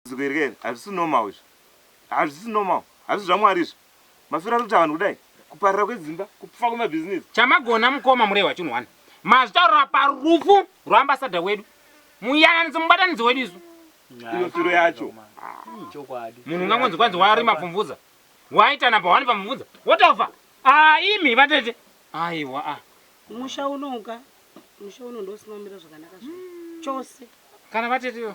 dambudziko iri keri hazvisi normal izvi hazvisi normal hazvisi zvamwari izvi mafiro ari kuita vanhu kudai kuparira kwedzimba kupfa kwemabhizinesi chamagona mukoma murehwa chinhu wani mazvitaurira parufu rwaambasada wedu muyananidzo mubatanidzo wedu isu iyo firo yacho munhu ungangonzi kwanzi wari mapfumvudza waitana pawani pamvudza wotofa ah, imi vatete aiwa ah. musha unoka musha uno ndosinomira zvakanaka zva chose kana vatete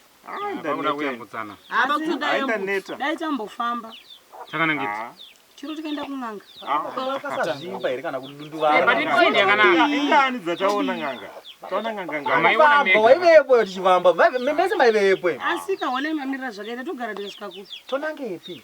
dai tambofamba chiro tikaenda kun'anga vakasazvimba here kana kudunduvaaiani dzataona n'anga vaivepo tichivamba mese maivepo asika honai mamirira zvakaita togara tikasvika kupi tonangepi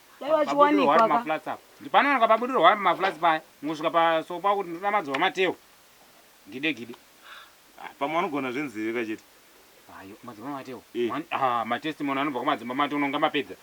dai vachiwanikwa ka ndipanowanikwa pabudirwa wari maflats paya mungosvika paso pakuti ndinoda madzova mateo gide gide ah, pamwe vanogona zvenzeve kachete ayo madzimba mateo eh. ah, matestimony anobva kumadzimba mateo unonga mapedza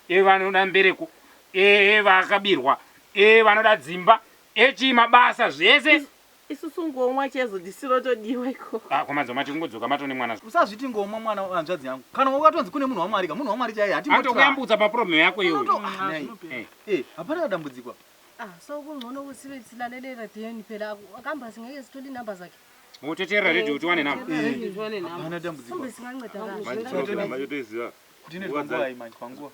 e vanoda mbereko e vakabirwa e vanoda dzimba echi mabasa zvese Isusu ngomwa chaizvo disu rotodiwa ikoko. Haa ko madzibaba mati kungodzoka mato nemwana so. Usazviti ngomwa mwana hanzvadzi yangu kana wanga watonzi kune munhu waMwari ka munhu waMwari chaiye hatimbo try. Anotokuyambutsa pa problem yako iyoyo. Unoto ah nhai eh hapana dambudziko apa. Ah so kuncono usiye tilalele radioni phela akamba singeke sithole inumber zakhe. Wototeerera radio kuti uwane number. Hapana dambudziko apa. Mhlawumbe singancedakala. Manje tinotoiziva. Ndine nguva iyi manje panguva.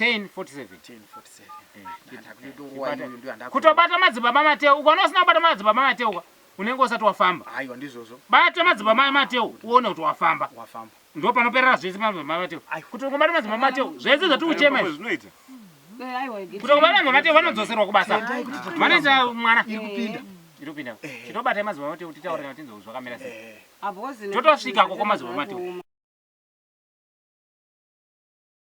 1047 kutobata madzibaba mateu ukaona usina kubata madzibaba mateu ka unenge usati wafamba aiwa ndizvozvo bata madzibaba mai mateu uone kuti wafamba wafamba ndo panoperera zvese madzibaba mai mateu kuti ungobata madzibaba mateu zvese zvati uchema izvi zvinoita kuti ungobata madzibaba mateu vanodzoserwa kubasa vanoita mwana iri kupinda iri kupinda chitobata madzibaba mateu titaure kana tinzwa zvakamira sei totosvika koko madzibaba mateu